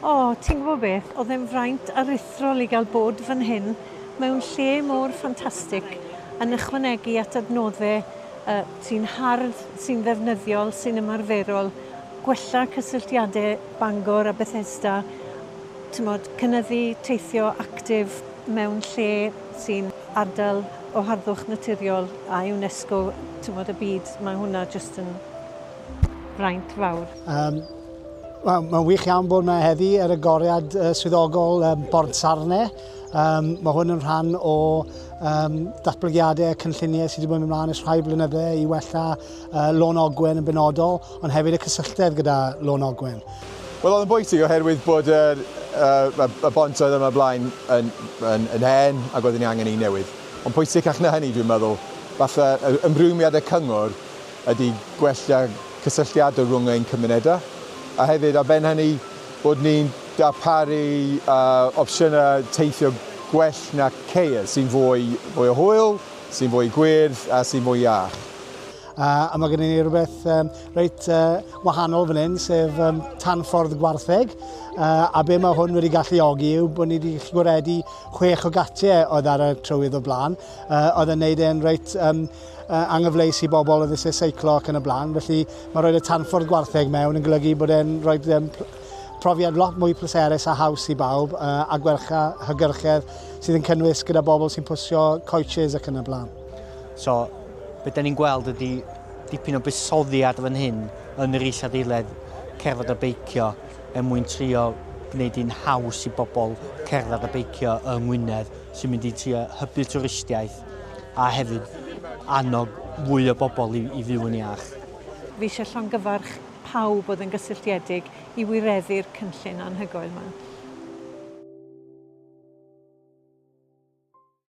O, ti'n gwybod beth, oedd e'n fraint aruthrol i gael bod fan hyn, mewn lle mor ffantastig, yn ychwanegu at adnoddau yy sy'n hardd, sy'n ddefnyddiol, sy'n ymarferol, gwella cysylltiadau Bangor a Bethesda, timod, cynyddu teithio actif mewn lle sy'n ardal o harddwch naturiol a UNESCO, timod, y byd, mae hwnna jyst yn fraint fawr. Um, Mae'n ma wych iawn bod yma heddi ar y goriad uh, swyddogol um, Bord Sarne. Um, mae hwn yn rhan o um, datblygiadau a cynlluniau sydd wedi bod yn ymlaen ys rhai blynyddau i wella uh, Lôn Ogwen yn benodol, ond hefyd y cysylltedd gyda Lôn Ogwen. Wel, oedd yn bwysig oherwydd bod y, uh, y bont oedd yma blaen yn, yn, yn hen ac oedd yn angen ei newydd. Ond pwysicach na hynny, dwi'n meddwl, falle ymrwymiad y cyngor ydy gwella cysylltiadau rhwng ein cymunedau, a hefyd ar ben hynny bod ni'n darparu uh, opsiynau teithio gwell na ceir, sy'n fwy, fwy o hwyl, sy'n fwy gwyrdd a sy'n fwy iach. Uh, a mae gennym ni rhywbeth um, reit uh, wahanol fan hyn, sef um, tanffordd gwartheg. Uh, a be mae hwn wedi galluogi yw bod ni wedi gwaredu chwech o gatiau oedd ar y trywydd o blaen. Uh, oedd yn neud e'n reit um, anghyfleus i bobl yn ddysgu seiclo ac yn y blaen. Felly mae rhoi y tanffordd gwartheg mewn yn golygu bod e'n rhoi profiad lot mwy pleserus a haws i bawb a gwercha hygyrchedd sydd yn cynnwys gyda bobl sy'n pwysio coaches ac yn y blaen. So, beth da ni'n gweld ydy dipyn o busoddiad fan hyn yn yr isadeiledd cerdded a beicio er mwyn trio gwneud hi'n haws i bobl cerdded a beicio yng Ngwynedd sy'n mynd i trio hybu twristiaeth a hefyd annog fwy o bobl i, i fyw yn iach. Fi eisiau llongyfarch pawb oedd yn gysylltiedig i wireddu'r cynllun anhygoel yma.